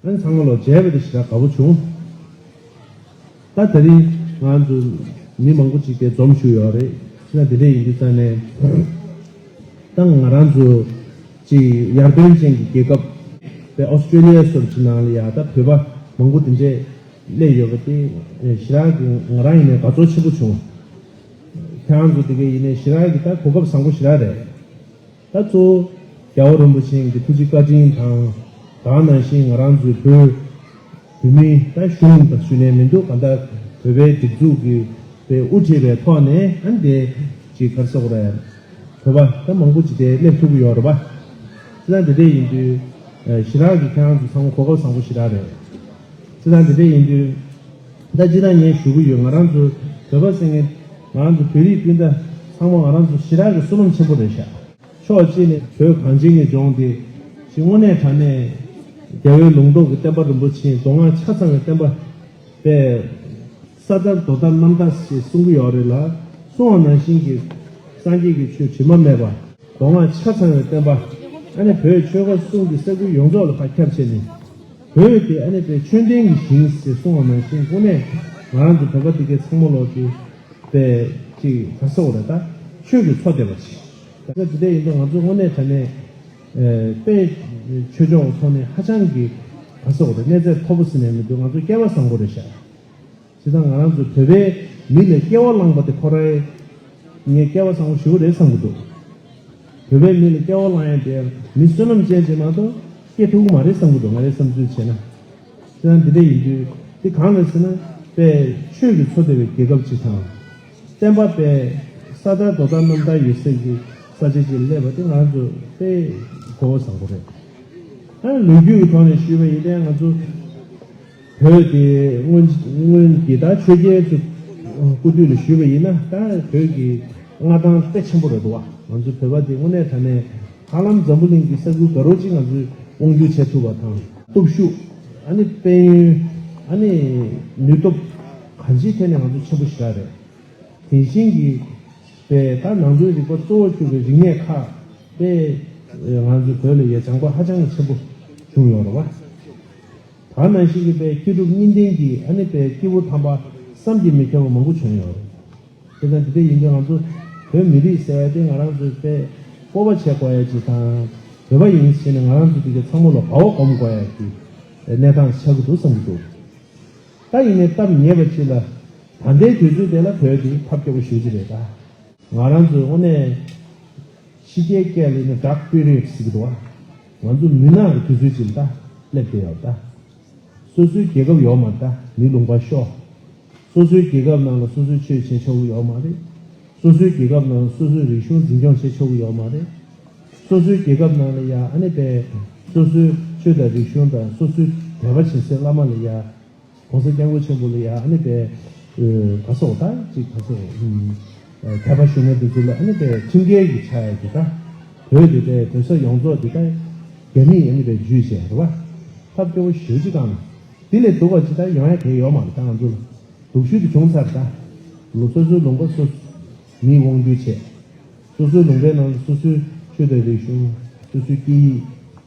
ཨན་ཚང་མ་ལོ་བརྒྱད་པ་དེ་ཞེ་དྲག་དགའ་པོ་བྱུང། ད་དེ་རིང་ང་ཚོ་མི་མང་པོ་ཅིག་དེ་འཛོམས་བཞུགས་ཡོད་རེད་ཅེ་ན་དེ་འདྲས་ཡིན་དུས་ཙང་ནས་ད་ང་རང་ཚོ་ཅིག་ཡར་དོན་ཅན་གྱི་རྒྱལ་ཁབ་པའི Australia སོར་ཅིག་ནང་ལ་ཡང་ད་བོད་པ་མང་པོ་དེ་འདྲས་སླེབས་ཡོད་པ་དེ་ཞེ་དྲག་གི་ང་རང་ཡིན་ནས་དགའ་ཚོར་ཆེན་པོ་བྱུང། ཁྱེད་རང་ཚོ་དེ་གའི་ཡིན་ནས་ཞེ་དྲག་གི་ད་གོ་སྐབས་བཟང་པོ་ཞེ་དྲག་རེད། ད་གཙོ་བོ་རྒྱལ་བ་རིན་པོ་ཆེན་གྱི་ཐུགས་རྗེ་བཀའ་དྲིན་དང། དག་ནང་བཞིན་ང་རང་ཚོའི་བོད་བོད་མི་ད་གཞུང་དང་ཞུ་ནས་མི་འདུག་ག་འདའ་བོད་པའི་སྒྲིག་འཛུགས་ཀྱི་པའི་དབུ་ཁྲིད་པའི་ཐོག་ནས་ཨ་འདའི་ཅིག་གར་སོག་རེད། བོད་པ་ད་མང་པོ་ཅིག་དེ་སླེབས་ཐུབ་ཀྱི་ཡོད་རེད་པ། ཅི་ད་འདི་འདྲས་ཡིན་དུས་ཞི་རགས་ཀྱི་ཁྱེད་རང་ཚོ་ཚང་གོ་སྐབས་བཟང་པོ་ཞི་རགས་རེད། ཅི་ད་འདི་འདྲས་ཡིན་དུས། ད་ཅི་ན་ངས་ཞུ་གི་ཡོད་ང་རང་ཚོ་བོད་པ་ཟེར་མཁན་ང་རང་ཚོ་བོད་རིགས་སྤུན་ཟླ་ཚང་མ་ང་རང་ཚོ་ཞི་རག་གི་བསོད་ནམས་ཆེན་པོ་རེད་ཤག་ཕྱོགས་གཅིག་ནས་བོད་གངས་ཅན་གྱི་ལྗོངས་འདི་ཞི་དངོས་གནས་དྲང་གནས་རྒྱལ་བའི་ལུང་རྟོགས་ཀྱི་བསྟན་པ་རིན་པོ་ཆེའི་མདོ་སྔགས་ཆ་ཚང་བའི་བསྟན་པ་པས་ས་དར་རྡོ་དར་གནམ་དར་ཞེས་གསུང་གི་ཡོག་རེད་ལ་གསུང་བ་ནང་བཞིན་གྱི་སངས་རྒྱས་ཀྱི་ཆོས་དྲི་མ་མེད་པ་མདོ་སྔགས་ཆ་ཚང་བའི་བསྟན་པ་ཨ་ནེ་བོད་ཆོལ་ཁ་གསུམ་གྱི་ས་ཁུལ་ཡོངས་རྫོགས་ལ་ཁ་ཁྱབ་བྱས་ནས། བོས་ཏེ་ཨ་ནེ་པའི་མཆོད་རྟེན་གྱི་ཞིང་ཞེས་གསུང་བ་ནང་བཞིན་སྐུ་ནས་ང་རང་ཚོ་བོད་པ་འདི་གའི་ཚང་མ་ལོག་སྟེ། པའི་ཅིག་ད་ས་འོ་རེ་ད། ཆོས་ཀྱི་ཚོགས་བསྡད་པ་ཞིག། ད་ཆ་འདི་འད་ཡིན་འདུག་ང་ཚོ་དངོས་གནས་དྲ་གནས། པའི་ཆོས་ཕྱོགས་ཐོག་ནས་ཧ་ཅང་གི། ད་ས་འོ་རེ་གནས་ཚད་མཐོ་པོ་ཟིན་ནས་མི་འདུག་ང་ཚོ་སྐལ་བ་བཟང་པོ་རེ་ཤག། བྱས་ཙང་ང་རང་ཚོའི་བོད་པའི་མི་ལས་སྐྱེ་བ་བླངས་པ་དེ་ཁོ་རེད། ངས་སྐྱེ་བ་བཟང་བོ་ཞིག་རེད་བསམ་གྱི་འདུག་བོད་པའི་མི་ལ་སྐྱེ་བ་བླངས་ཡང་དེ་མི་བསོད་ནམས་ཅན་ཞིག་མ་གཏོགས་སྐྱེ་ཐུབ་གི་མ་རེད་བསམ་གྱི་འདུག་ང་རེ་བསམ་ཚུལ་བྱས་ན། བྱས་ཙང་འདི་འདྲ་ཡིན་དུས་འདི་གང་རེད་ཟེར་ན་དཔལ་ཆོས་ཀྱི་འཚོ་བདེ་བའི་རྒྱལ་ཁབ་ཅིག་དང། བསྟན་པ་དཔལ་ས་དར་རྡོ་དར་གནམ་དར་ཡོད་སའི་གི་ས་ཆ་ཅིག་སླེབས་པ་དེ་ང་ཚོ་དཔེ་གོ་བ་བཟང་བོ་རེད། ལོ་རྒྱུས་ཀྱི་ཐོག་ནས་ཞུས་པ་ཡིན་ཏེ་ང་ཚོ། བོད་དེ་སྔོན་གྱི་ད་ཆོས་རྒྱལ་ཚོ་སྐུ་དུས་ལ་ཞུས་པ་ཡིན་ན་ད་བོད་ཀྱི་མངའ་ཐང་དཔེ་ཆེན་པོ་རེད་འདུག་བ་ང་ཚོ་བོད་པ་དེ་དངོས་གནས་ད་ནས་ཧ་ལམ་འཛམ་བུ་གླིང་གི་ས་ཁུལ་ག་རོ་གཅིག་ང་ཚོས་དབང་བསྒྱུར་བྱས་ཐུབ་པ་དང། སྟོབས་ཤུགས་ཨ་ནི་དཔལ་ཡོན་ཨ་ནི་ནུས་སྟོབས་གང་ཅིའི་ཐད་ནས་ང་ཚོ་ཆེན་པོ་ཞིག་རེད། དེ་བཞིན་གྱི་པས་ད་ནང་དོན་རིག་པ་གཙོ་བོར་གྱུར་པའི་རིག་གནས་ཁག་པས་ང་ཚོ་བོད་ལ་ཡ་བྱང་པ་ཧ་ཅང་གི་ཆེན་པོ་བྱུང་ཡོད་རེད་བ། དར་ནག་ཤིང་གི་པའི་སྐྱེས་གྲུབ་གཉིས་ལྡན་གྱི་ཨ་ནེ་པའི་སྐྱེས་བུ་དམ་པ་བསམ་གྱིས་མི་ཁྱབ་པ་མང་པོ་བྱོན་ཡོད། དེ་དང་དེ་འདྲ་ཡིན་དུས་ང་ཚོ་བོད་མི་རིགས་ཟེར་བ་དེ་ང་རང་ཚོའི་པའི་སྤོབས་པ་བྱེད་དགོས་ཡ་ཇི་དང་བོད་པ་ཡིན་ཟེར་ནས་ང་རང་ཚོ་དེ་གའི་ཚང་མོ་ལ་བའོ་སྒོམ་དགོས་ཡ་ཀྱི་གནས་སྟངས་ཆགས་ཀྱི་འདུག་བསམ་གྱི་འདུག་ད་ཡིན་ནའི་སྟབས་ཉེས་པ་ཅི་ལ་ད་ལྟའི་དུས་ཚོད་དེ་ལ་བོད་དེ་ཐབས་སྐྱོ་པོ་ཞུ་གྱི་རེད་ད། ང་རང་ཚོའི་དབུ་ནས་ཕྱི་རྒྱལ་སྐད་ལ་ཡིན་ན Duck Period ཟེར་གྱི་འདུག་བ། ང་ཚོ་མུན་ནག་གི་དུས་ཚོད་ཅིག་མདའ་སླེབས་ཀྱི་ཡོད་མདའ། སོ་སོའི་རྒྱལ་ཁབ་ཡོད་མ་མདའ་མི་ལུང་པ་ཤོག། སོ་སོའི་རྒྱལ་ཁབ་ནང་ལ་སོ་སོའི་ཆོས་བྱེད་ཆོག་གི་ཡོད་མ་རེད། སོ་སོའི་རྒྱལ་ཁབ་ནང་ལ་སོ་སོའི་རིག་གཞུང་འཛིན་སྐྱོང་བྱེད་ཆོག་གི་ཡོད་མ་རེད། སོ་སོའི་རྒྱལ་ཁབ་ནང་ལ་ཡ་ཨ་ནེ་པས་སོ་སོའི་ཆོས་དང་རིག་གཞུང་དང་སོ་སོའི་དད་པ་བྱེད་སའི་བླ་མ་ལ་ཡ་གོང་ས་སྐྱབས་མགོན་ཆེན་པོ་ལ་ཡང་ཨ་ནེ་པའི་ག་སོག་ད་ཅིག་ག་སོག་མཁས་པ་ཞུ་ན་དེ་ཚོ་ལ་ཨ་ནེ་པའི་ཁྲིམས་འགལ་གྱི་ཆ་ཡ་དེ་ད་བོད་དེ་ད་བོད་ས་ཡོངས་རྫོགས་དེ་ད་རྒྱ་མིས་ཨ་ནེ་པའི་ཇུས་བྱས་རེད་བ། ཐབས་སྐྱོ་བོ་ཞོལ་ཅིག་ཨང། དེ་ལས་སྡུག་བ་ཅིག་ད་ཡོང་ཡ་དེ་ཡོག་མ་རེད་ད་ང་ཚོ་ལ་དུག་ཤུལ་དུ་བྱུང་ཚར་རེད་ད། ལོ་སོ་སོའི་ལུང་པ་སོ་མིས་དབང་བསྒྱུར་བྱས། སོ་སོའི་ལུང་པའི་ནང་དུ་སོ་སོའི་ཆོས་དད་རིག་གཞུང་སོ་སོའི་སྐད་ཡིག།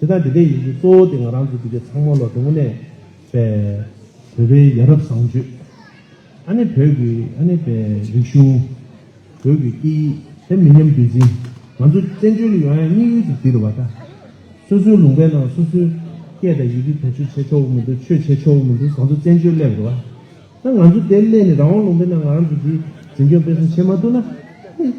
དེ་དག་འདི་འདྲའི་ཡིག་འབྲུ་གཙོ་བོ་དེ་ང་རང་ཚོ་འདི་གའི་ཚང་མ་ལ་འགྲོ་མགོ་ནས་བོད་པའི་ཡ་རབས་བཟང་སྤྱོད། ཨ་ནི་བོད་ཀྱི་ཨ་ནི་བའི་རིག་གཞུང། བོད་ཀྱི་སྐད་ཡིག་དེ་མི་ཉམས་རྒྱུན་འཛིན་ང་ཚོ་བཙན་བྱོལ་ཡོང་ཡང་དམིགས་ཡུལ་དེ་འདི་རེད་བ་ད། སོ་སོའི་ལུང་པའི་ནང་སོ་སོའི་སྐད་དང་ཡི་གེ་དོན་གཅོད་བྱས་ཆོག་གི་མི་འདུག་ཆོས་བྱས་ཆོག་གི་མི་འདུག་བཟང་ཚོ་བཙན་བྱོལ་སླེབས་རེད་བ། ད་ང་ཚོ་དེ་སླེབས་ནས་རང་དབང་ལུང་པའི་ནང་ང་རང་ཚོ་འདིའི་འཛིན་སྐྱོང་སྤེལ་གསུམ་བྱས་མ་ཐུབ་ན། ཧི།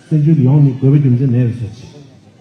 བཙན་བྱོལ་ཡོང་ནི་དགོས་པ་རྒྱུ་མཚན་མེད་རེད་བཟོ་བྱེད།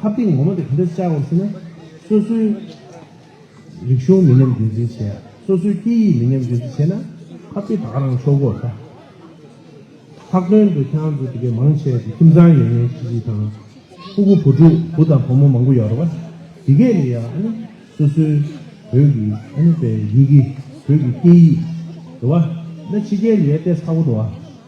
ཁ་གཏིང་ངོ་མ་དེ་ག་འདྲ་བཅའ་བར་བྱེད་ན། སོ་སོའི་རིག་གཞུང་མི་ཉམས་རྒྱུན་འཛིན་བྱེད། སོ་སོའི་སྐད་ཡིག་མི་ཉམས་རྒྱུན་འཛིན་བྱེད་ན། ཁ་གཏིང་ད་ག་རང་ཆོག་གོ་ད། ལྷག་དོན་དུ་ཁྱེད་རང་ཚོ་དེ་གའི་མང་ཆེ་བ་དེ་ཁྱིམ་ཚང་ཡོད་མཁན་ཤིག་ཤིག་དང། ཕུ་བོ་བུ་ཕྲུག་བུ་དང་བུ་མོ་མང་པོ་ཡོད་རེད་བ། དེ་གས་ལ་ཡང་ཨ་ནི་སོ་སོའི་བོད་ཀྱི་ཨ་ནི་བའི་ཡི་གེ་བོད་ཀྱི་སྐད་ཡིག་རེད་བ། ན་ཕྱི་རྒྱལ་ལ་ཡོད་ལྟས་ཚ་བོ་རེད་བ།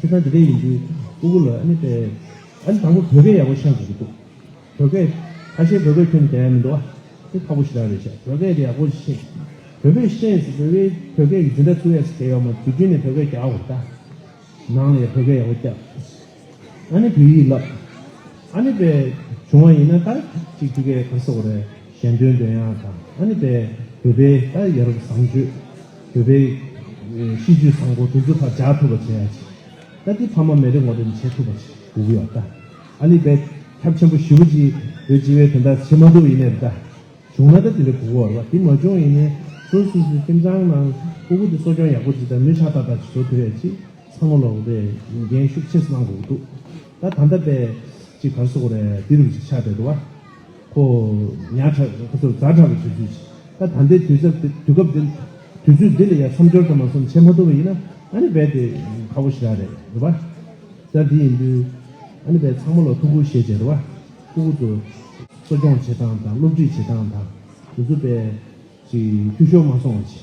ཁྱེད་རང་འདི་འདྲའི་ཡིན་དུས་ཨུ་གུ་ལ་ཨ་ནི་པེ། ཨ་ནི་དང་པོ་བོད་སྐད་ཡག་པོ་ཤག་དགོས་ཀྱི་འདུག་བོད་སྐད། ཁ་ཤས་བོད་སྐད་ཁྱོན་དེ་ཡག་མི་འདུག་ཨ། དེ་ཁག་པོ་ཞེ་དྲག་རེད་ཤག་བོད་སྐད་དེ་ཡག་པོ་ཤེས། བོད་པའི་ཤེས་སུ་བོད་པའི་བོད་སྐད་ཀྱི་འཛིན་གྲྭ་ཚུགས་ཡས་དེ་ཡོག་མ་དུས་རྒྱུན་ནས་བོད་སྐད་རྒྱག་དགོས་རེད་ད། ནང་ལ་ཡང་བོད་སྐད་ཡག་པོ་རྒྱག་དགོས། ཨ་ནི་བོད་ཡིག་ལབ། ཨ་ནི་པེ། བྱུང་བ་ཡིན་ན་ད་ཅིག་ཆུ་སྐད་ག་ས་གོ་རེ་གཞན་དོན་དོན་ཡག་དང་ཨ་ནི་པེ་བོད་པའི་ད་ཡ་རབས་བཟང་སྤྱོད། བོད་པའི་གཤིས་རྒྱུད་བཟང་པོ་དུག་རྫི་ཕར་འཇགས་ཐུབ་པ་བྱས་ཡག་ཅིག་ད་དེ་ཕ་མ་མེ་རི་ངོ་རེ་ནས་བྱེད་ཐུབ་པ་ཞིག་དགོས་གི་ཡོག་ད་ཨ་ནི་བད་ཁྱབ་ཆེན་པོ་ཞི་བུ་ཅིག་བོད་སྤྱི་བའི་དོན་དག་བྱེད་མ་ཐུབ་ཡིན་ནའི་རི་ད་བྱུང་ན་ད་དེ་འདྲ་དགོས་གི་ཡོག་རེད་དེ་མ་བྱུང་ཡིན་ནའི་སུ་སུ་སུ་ཁྱིམ་ཚང་ནང་སྤུ་གུ་དེ་གསོ་སྐྱོང་ཡག་པོ་ཅིག་ད་མི་ཧྲ་ཏག་ཏག་ཅིག་བཟོ་ཐུབ་ཡག་ཅིག་ཚང་མ་ལོག་དེ་འགན་ཤུགས་ཆེ་སུ་གནང་དགོས་གི་འདུག་ད་ད་ལྟ་བད་ཅིག་གར་སོ་གོ་རེ་དེ་རུ་ཅིག་ཆགས་བསྡད་འདུག་བ་ཁོ། ཉག་ཕྲ། ཁོ་ཚོར་རྫ་ཕྲ་བའི་དུས་ཚོད་ཅིག་ད་ད་འདི་དུས་ཚབ་དེ་དུས་སྐབས་འདི། དུས་ཚོད་འདི་ལ་ཡར་མཚམས་སྦྱོར་དང་མ་མཚམས་བྱེད་མ་ཐུབ་པ་ཡིན་ན་ཨ་ནི་རྦད་དེ་ཁག་པོ་ཞིག་རག་རེད་རེད་པཱ། ད་འདི་ཡིན་དུས། ཨ་ནི་རྦད་ཚང་མ་ལ་ཐུགས་ཁུར་བཞེས་བྱས་རེད་པཱ། ཁུ་ཁུ་ཚོ། གསོ་སྐྱོང་བྱེད་སྟངས་དང་སློབ་ཁྲིད་བྱེད་སྟངས་དང། དུས་ཚོད་རྦད། ཅིག་འཐུས་ཤོར་མ་སོང་བ་ཅིག།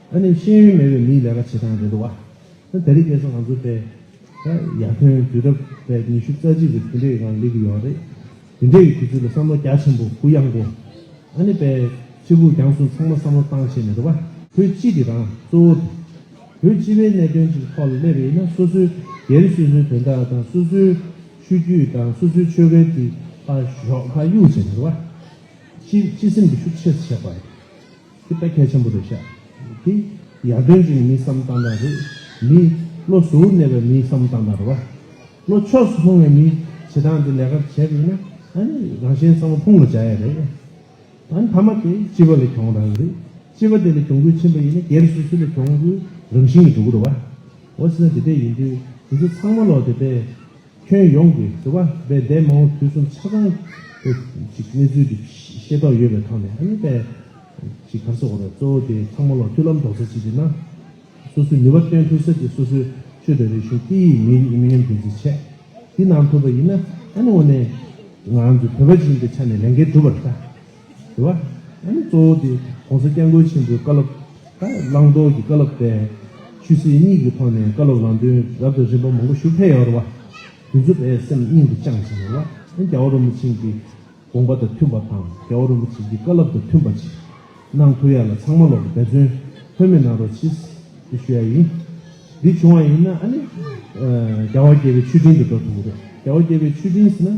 ད་ནི་ཤེས་ཡོན་མེད་པའི་མིའི་ལས་ཀ་བྱེད་སྟངས་རེད་འདུག་བ། ད་རིག་གནས་སུ་ང་ཚོ་པས། ཡར་ཐོན་དུས་རབས་པའི་ཉི་ཤུ་རྩ་གཅིག་གི་དུས་འདྲེ་ཡི་ངང་སླེབས་ཀྱི་ཡོད་པ་རེད། དེ་འདྲེ་ཡི་དུས་ཚོད་ལ་བསམ་བློ་རྒྱ་ཆེན་པོ་གུ་ཡངས་པོ། ད་ནི་པའི་ཕྱི་སྦུག་རྒྱང་སྲུང་ཚང་མ་བསམ་བློ་བཏང་བྱས་ནས་འདུག་བ། བོད་སྤྱི་དེ་དང་གཙོ་བོ་དེ། བོད་སྤྱི་པའི་གནད་དོན་གྱི་ཐོག་ལ་སླེབས་པ་ཡིན་ན་སོ་སོའི་སྒེར་སོ་སོའི་དོན་དག་དང་སོ་སོའི་ཆོས་བརྒྱུད་དང་སོ་སོའི་ཆོལ་ཁའི་དེ་ལྟར་ཞོགས་ཁ་གཡུག་བྱས་ནས་འདུག་བ། སྤྱི་སེམས་ཀྱི་ཤུགས་ཆེར་ཆགས་པ་རེད། ཁྱེད་རྟ་ཁལ་ཆེན་པོ་རེད་ཤག་དེ། ཡར་དོན་གྱི་མི་བསམ་སྟངས་དག་རེད། མི། བློ་གཟུར་གནས་པའི་མིའི་བསམ་སྟངས་དག་རེད་བ། བློ་ཕྱོགས་སུ་ལྷུང་བའི་མི། བྱེད་སྟངས་འདི་ལས་ཀ་བྱས་པ་ཡིན་ན། ཨ་ནི་རང་གཞན་ཚང་མ་ཕུང་ལ་བྱ་ཡ་རེད། ད་ནི་ཐ་མ་དེ་སྤྱི་བ་ལས་གྱོང་རག་གི་རེད། སྤྱི་བ་དེ་ལས་གྱོང་གུད་ཕྱིན་པ་ཡིན་ན་སྒེར་སོ་སོ་ལས་གྱོང་གུད་རང་བཞིན་གྱི་འགྲོ་གི་རེད་བ། འོ་སྲིད་ན་དེ་འད་ཡིན་དུས་དེ་ཚོ་ཚང་མ་ལོག་དེ་འད། ཁྱོན་ཡོངས་ཀྱི་དུ་བ་བའི་འདས་མ་འོངས་དུས་གསུམ་ཆ་ཚང་གི་གནས་ཚུལ་གྱི་ཤེས་རྟོགས་ཡོད་པའི་ཐོག་ནས་ཨ་ནུ་པས་ཀྱི་གར་སོགས་འོག་ནས་གཙོ་བོ་དེ་ཚང་མ་ལོ་མཐུན་ལམ་རྡོག་རྩ་གཅིག་སྒྲིལ་ན། སོ་སོའི་ནུས་པ་བཏོན་ཐུབ་ས་དེ་སོ་སོའི་ཆོས་དང་རིག་གཞུང་སྐད་ཡིག་མི་རིགས་མི་ཉམས་རྒྱུན་འཛིན་བྱས་འདི་གནང་ཐུབ་པ་ཡིན་ན་ཨ་ནུ་འོ་ནས་ང་ཚོ་བོད་པ་ཞིག་ཡིན་པའི་ཆ་ནས་ལས་འགན་སྒྲུབ་པར་ལྟ། དགོས་པ། ཡང་ན་གཙོ་བོ་དེ ྋགོང་ས ྋསྐྱབས་མགོན་ཆེན་པོའི་བཀའ་སློབ་དང་བླང་དོར་གྱི་བཀའ་སློབ་སྟེ། ཆོས་སྲིད་གཉིས་ཀྱི་ཐོག་ནས་བཀའ་སློབ་ལམ་སྟོན་རབ་དང་རིམ་པ་མང་པོ་ཞུ་འཕེལ་ཡོང་བར། དུས་ཚོད་པས་སེམས་སྙིང་དུ་བཅངས་བཞིན་ཡོད་ལ། ཡང་རྒྱ་བོ་རིན་པོ་ཆེན་གྱི་དགོངས་པ་དང་མཐུན་པ་དང་རྒྱ་བོ་རིན་པོ་ཆེན་གྱི་བཀའ་སློབ་དང་མཐུན་པ་ཅིག་གནང་ཐུབ་ཡ་ལ་ཚང་མ་ལོག་པའི་འབད་བརྩོན་ལྷོད་མེད་གནང་རོགས་ཆེས་ཞུ་ཡ་ཡིན། འདི་བྱུང་བ་ཡིན་ན་ཨ་ནི ྋརྒྱ་བོ་རྒྱལ་བའི་མཆོད་སྤྲིན་དུ་འགྲོ་ཐུབ་ཀྱི་རེད། རྒྱ་བོ་རྒྱལ་བའི་མཆོད་སྤྲིན་ཟེར་ན།